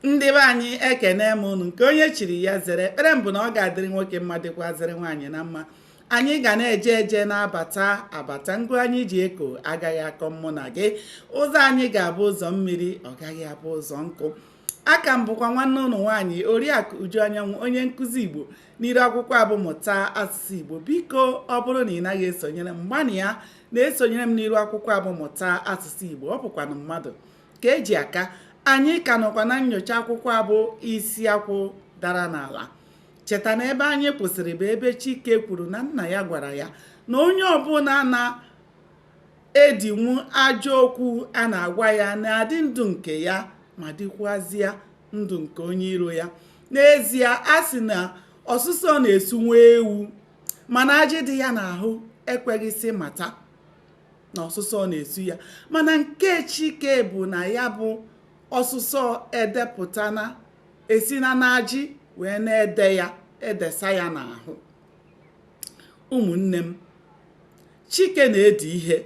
ndị be anyị ekenee m unu nke onye chiri ya zere ekpere m bụ na ọ ga-adịrị nwoke mma dịkwazịrị nwaanyị na mma anyị ga na-eje eje na-abata abata ngụ anyị ji eko agaghị akọ mụ na gị ụzọ anyị ga-abụ ụzọ mmiri ọ gaghị abụ ụzọ nkụ a ka m bụkwa nwanne unu nwaanyị oriakụ uju anyanwụ onye nkụzi igbo n'iru akwụkwọ a bụ mụta asụsụ igbo biko ọ bụrụ na ị naghị esonyere m gbanịa na-esonyere m n'iru akwụkwọ a bụ mụta asụsụ igbo ọ bụkwanụ mmadụ ka e ji aka anyị ka nọkwa na nyocha akwụkwọ a bụ isi akwụ dara n'ala cheta na ebe anyị kwụsịrị bụ ebe chike kwuru na nna ya gwara ya na onye ọbụla na-edinwu ajọ okwu a na-agwa ya na-adị ndụ nke ya ma dịkwazịa ndụ nke onye iro ya n'ezie a sị na ọsụsọ na-esu nwa ewu mana ajị dị ya n'ahụ ekweghịsị mata na ọsụsọ na-esu ya mana nke chike bụ na ya bụ ọsụsọ edepụtana esina n'ajị wee na-ede ya edesa ya n'ahụ ụmụnne m chike na-edi ihe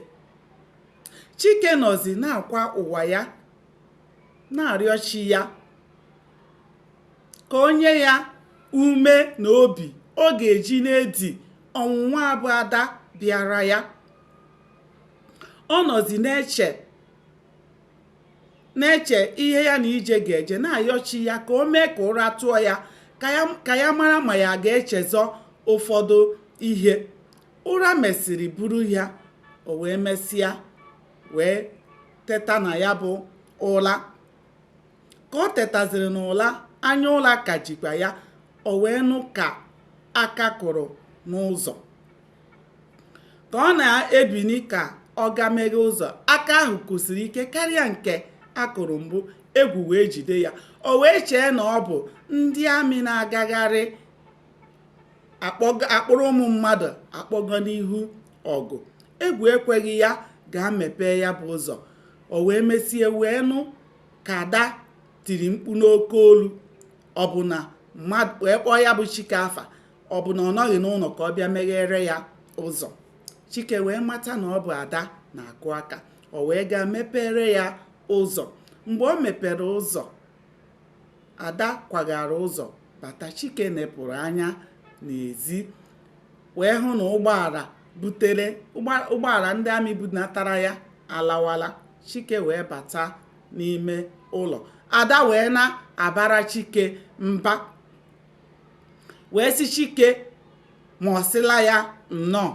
chike nọzi na-akwa ụwa ya na-arịọ chi ya ka o nye ya ume na obi ọ ga-eji na-edi ọnwụnwa a bụ ada bịara ya ọ nọzi na-eche na-eche ihe ya na ije ga-eje na-ayọ chi ya ka o mee ka ụra tụọ ya ka ya mara ma ya ga-echezọ ụfọdụ ihe ụra mesịrị buru ya o wee mesịa wee teta na ya bụ ụla Ka o tetaziri n'ụla, anya ụla ka jikwa ya, o wee nụ ka aka kụrụ n'ụzọ. Ka ọ na-ebini ka ọ gaa meghe ụzọ, aka ahụ kụsiri ike karịa nke a kụrụ mbụ, egwu wee jide ya. O wee chee na ọ bụ ndị amị na-agagharị akpụrụ ụmụ mmadụ akpọga n'ihu ọgụ. Egwu ekweghị ya gaa mepee ya bụ ụzọ. O wee mesie wee nụ ka ada tiri mkpu n'oke olu wee kpọọ ya bụ chike afa ọ bụ na ọ nọghị n'ụnọ ka ọ bịa meghere ya ụzọ chike wee mata na ọ bụ ada na-akụ aka o wee gaa mepere ya ụzọ mgbe o mepere ụzọ ada kwagara ụzọ bata chike nepụrụ anya n'ezi wee hụ na ụgbọala butere ụgbọala ndị amị bunatara ya alawala chike wee bata n'ime ụlọ ada wee na-abara chike mba wee sị chike ma ọ sịla ya nnọọ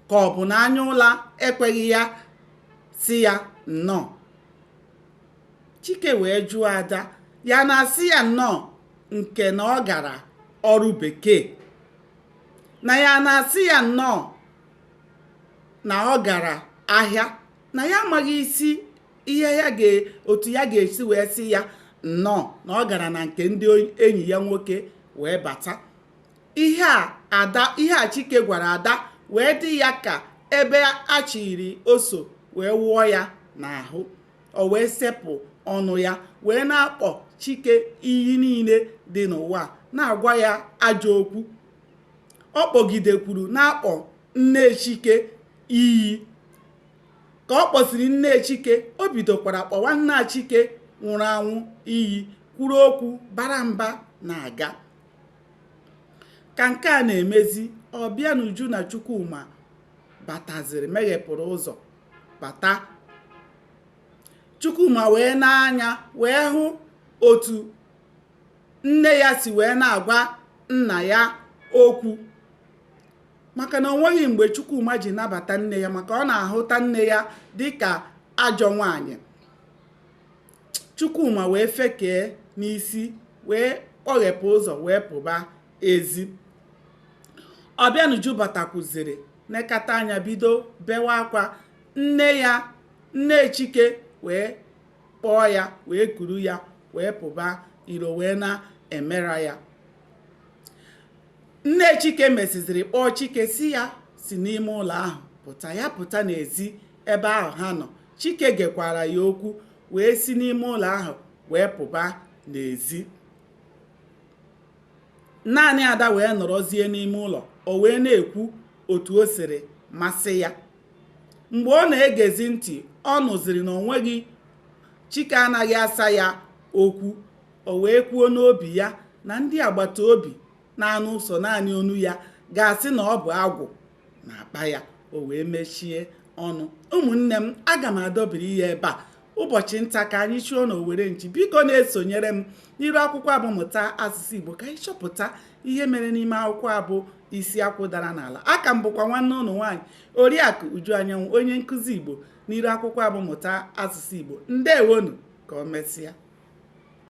ka ọ bụ na anya ụla ekweghị ya sị ya nnọọ chike wee jụọ ada ya na-asị ya nnọọ nke na ọ gara ọrụ bekee na ya na-asị ya nnọọ na ọ gara ahịa na ya amaghị isi ihe ya ga otu ya ga-esi wee sị ya nnọọ na ọ gara na nke ndị enyi ya nwoke wee bata ihe a ada ihe a chike gwara ada wee dị ya ka ebe a chịrị oso wee wụọ ya n'ahụ o wee sepụ ọnụ ya wee na-akpọ chike iyi niile dị n'ụwa na-agwa ya ajọ okwu ọ kpọgidekwuru na-akpọ nne chike iyi ka ọ kpọsịrị nne chike o bidokwara kpọwa nna chike nwụrụ anwụ iyi kwuru okwu bara mba na-aga ka nke a na-emezi ọbịanuju na chukwuma bataziri meghepụrụ ụzọ bata chukwuma wee nee anya wee hụ otu nne ya si wee na-agwa nna ya okwu maka na o nweghị mgbe Chukwuma ji nabata nne ya maka ọ na-ahụta nne ya dịka ajọ nwaanyị Chukwuma wee fekee n'isi wee kpọghepụ ụzọ wee pụba ezi ọbịanuju batakwuziri nekata anya bido bewa akwa nne ya nne chike wee kpọọ ya wee kuru ya wee pụba iro wee na-emera ya nne chike mesiziri kpọọ chike sị ya si n'ime ụlọ ahụ pụta ya pụta n'ezi ebe ahụ ha nọ chike gekwara ya okwu wee si n'ime ụlọ ahụ wee pụba n'ezi naanị ada wee nọrọzie n'ime ụlọ o wee na-ekwu otu o siri masị ya mgbe ọ na-egezi ntị ọ nụziri na o nweghị chike anaghị asa ya okwu o wee kwuo n'obi ya na ndị agbata obi na-anụ sọ naanị onu ya ga-asị na ọ bụ agwụ na-akpa ya o wee mechie ọnụ ụmụnne m aga m adọbiri ya ebe a ụbọchị nta ka anyị chụọ n'owere nchi biko na-esonyere m n'iru akwụkwọ a bụ mụta asụsụ igbo ka anyị chọpụta ihe mere n'ime akwụkwọ a bụ isi akwụ dara n'ala aka m bụkwa nwanne unu nwaanyị oriakụ uju anyanwụ onye nkụzi igbo n'iru akwụkwọ a bụ mụta asụsụ igbo ndewonu ka ọ mesịa